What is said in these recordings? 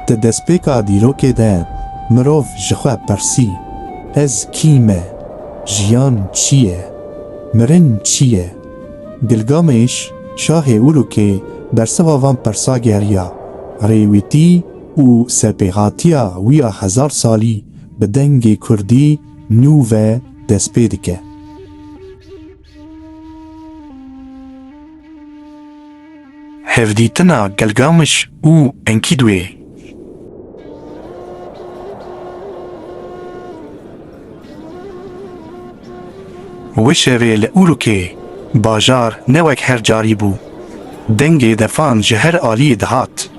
Di destpêka dîrokê de mirov ji xwe pirsî, Ez kî me? Jiyan çi ye? Mirin çi ye? Gilgamêş, şahê Urûkê bersiva van pirsa geriya, rêwîtî û serpêhatiya wî ya hezar salî bi dengê kurdî nû ve destpê dike. Hevdîtina Gelgamiş û Enkîdwê. Wi şevê li Urûkê bajar ne wek her carî bû. Dengê defan ji her aliyê dihat.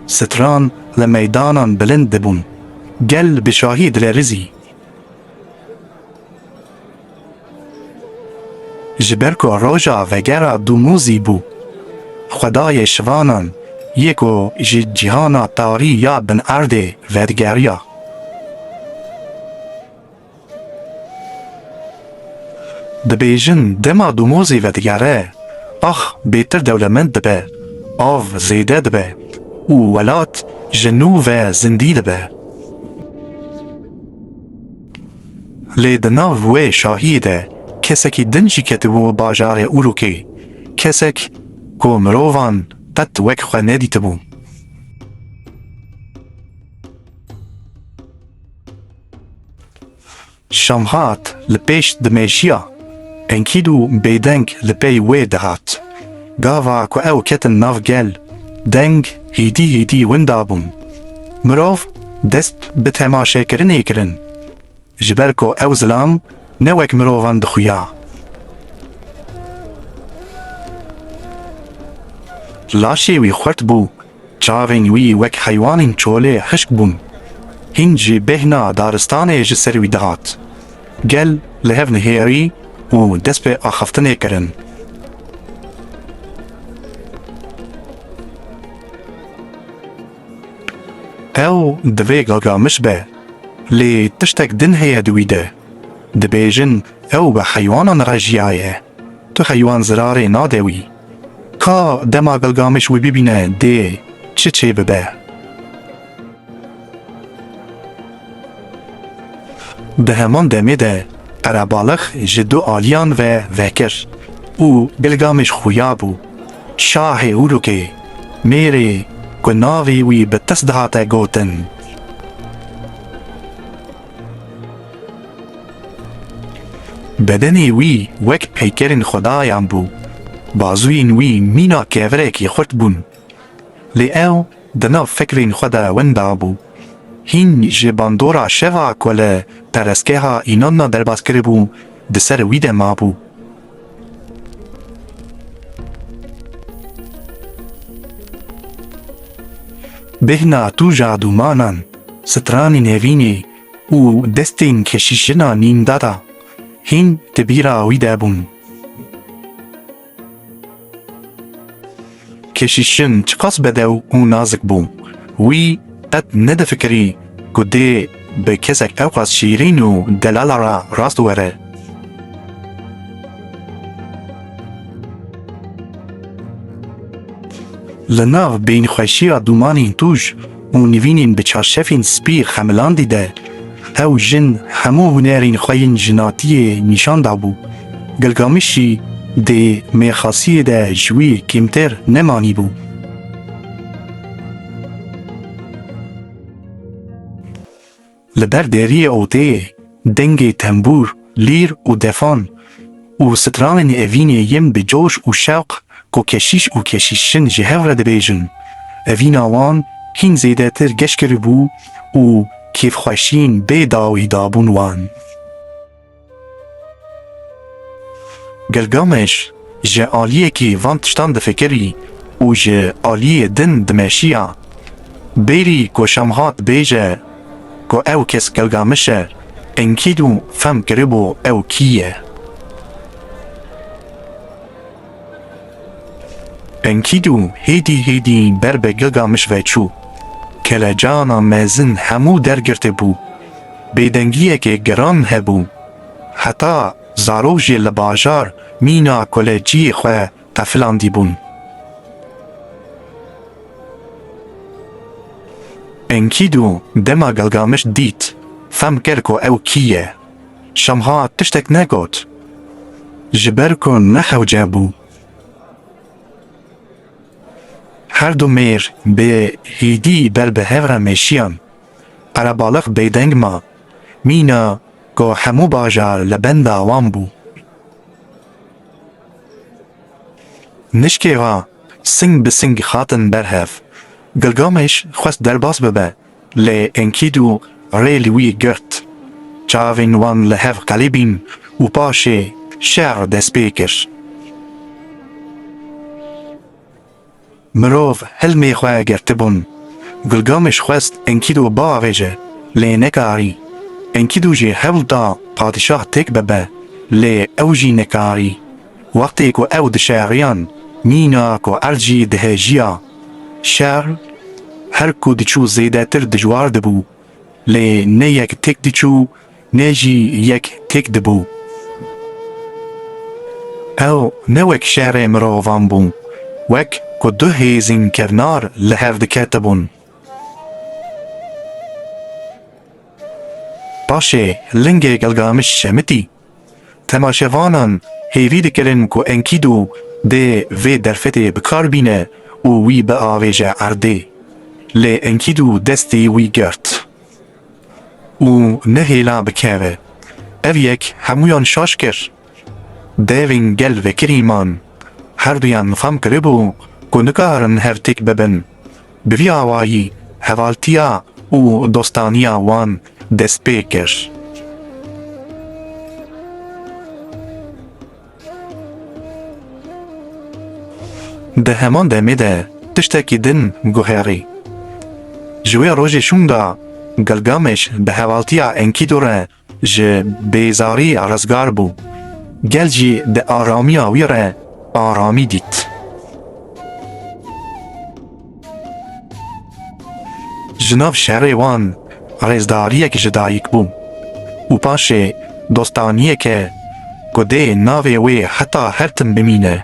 Stran li meydanan bilind dibûn. Gel bi şahî dilerizî. Ji ber ku roja vegera Dumûzî bû, xwedayê şivanan yê ku ji cîhana tarî ya bin erdê vedigerîya. Dibêjin dema Dumûzî vedigere, ax bêtir dewlemend dibe, av zêde dibe û welat ji nû ve zindî dibe. Lê di nav wê şahiyê de kesekî din jî ketibû bajarê Urûkê, kesek ku mirovan qet wek xwe nedîtibû. Şamhat li pêş dimêjiya Enkîdû bêdeng li pey wê dihat. Gava ku ew ketin nav gel, deng, hêdî hêdî winda bûn. Mirov dest bi temaşekirinê kirin, ji ber ku ew zilam ne wek mirovan dixuya. Laşê wî xurt bû, çavên wî wek heywanên çolê hişk bûn. Hîn jî bêhna daristanê ji ser wî dihat. Gel li hev nihêrî û dest bi axaftinê kirin. Ew divê gagamiş be, lê tiştek din heye di wî de. Dibêjin ew bi heywanan re jiyaye, tu heywan zirarê nade wî. Ka dema gagamiş wî bibîne dê çi çêbibe? Di heman demê de qerebalix ji du aliyan ve vekir û Gilgameş xuya bû. Şahê Urûkê, mêrê ku navê wî bi tis dihate gotin. Bedenê wî wek peykerên xwedayan bû, bazûyên wî mîna kevirekî xurt bûn. Lê ew di nav fikrên xwe de winda bû. Hîn ji bandora şeva ku li perestgeha Înonna derbas kiribû di ser wî de mabû. Bêhna tûja dûmanan, stranên hevînê û destên keşîşina nîmdada hîn di bîra wî de bûn. Keşîşin çiqas bedew û nazik bû. Wî qet nedifikirî ku dê bi kesek ewqas şîrîn û delala re rast were. Li nav bêyînxweşiya dûmanîn tûj. û nivînên bi çarşefên spî xemilandî de ew jin hemû hunerên xwe yên jinatiyê nîşan dabû. Gilgamiş jî dê mêrxasiyê de ji wî kêmtir nemanîbû. Li ber deriyê odeyê dengê tembûr, lîr û defan û stranên evînê yên bi coş û şewq ku keşîş û keşîşjin ji hev re dibêjin, evîna wan hîn zêdetir geş kiribû û kêfxweşîn bê dawî dabûn wan. Gilgameş ji aliyekî van tiştan difikirî û ji aliyê din dimeşiya. Bêrî ku Şamhat dibêje ku ew kes Gilgameş e, Enkîdû fehm kiribû ew kî ye. Enkîdû hêdî hêdî ber be gega mij ve çû. Kelecana mezin hemû dergirti bû. Bêdengiyekê giran hebû. Heta zarok jî li bajar mîna koleciyê xwe qefilandîbûn. Enkîdû dema Gilgamiş dît, fem kir ku ew kî ye. Şamhat tiştek negot, ji ber ku nexewce bû. Her du mêr bi hêdî ber bi hev re mêşiyan. Qerebalix bêdeng ma, mîna ku hemû bajar li benda wan bû. Nişkê ra sing bi sing hatin ber hev. Gilgameş xwest derbas bibe Lê Enkîdû rê li wî girt. Çavên wan li hev qelibîn û paşê şer dest pê kir. Mirov hilmê xwe girtibûn. Gilgameş xwest Enkîdû biavêje, lê nekarî. Enkîdû jî hewl da padîşah têk bibe, lê ew jî nekarî. Wextê ku ew dişeriyan mîna ku erd jî dihêjiya. Şer her ku diçû zêdetir dijwar dibû. Lê ne yek têk diçû ne jî yek têk dibû. Ew ne wek şerê mirovan bû, wek ku du hêzên kevnar li hev diketibûn. Paşê lingê Gilgamiş Şemitî Temaşevanan hêvî dikirin ku Enkidu dê vê derfetê bi kar bîne û wî biavêje erdê. Lê Enkidu destê wî girt û nehêla bikeve. Ev yek hemûyan şaş kir. Devên gel vekirî man. Herduyan fam kiribû ku nikarin hev têk bibin. Bi vî awayî hevaltiya û dostaniya wan dest pê kir. Di heman demê de tiştekî din guherî. Ji wê rojê şûnda Gilgameş bi hevaltiya Enkidu re ji bêzarî rizgar bû, gel jî di aramiya wî re aramî dît. Ji nav şerê wan rêzdariyek ji dayik bû û paşê dostaniyeke ku dê navê wê heta her tim bimîne.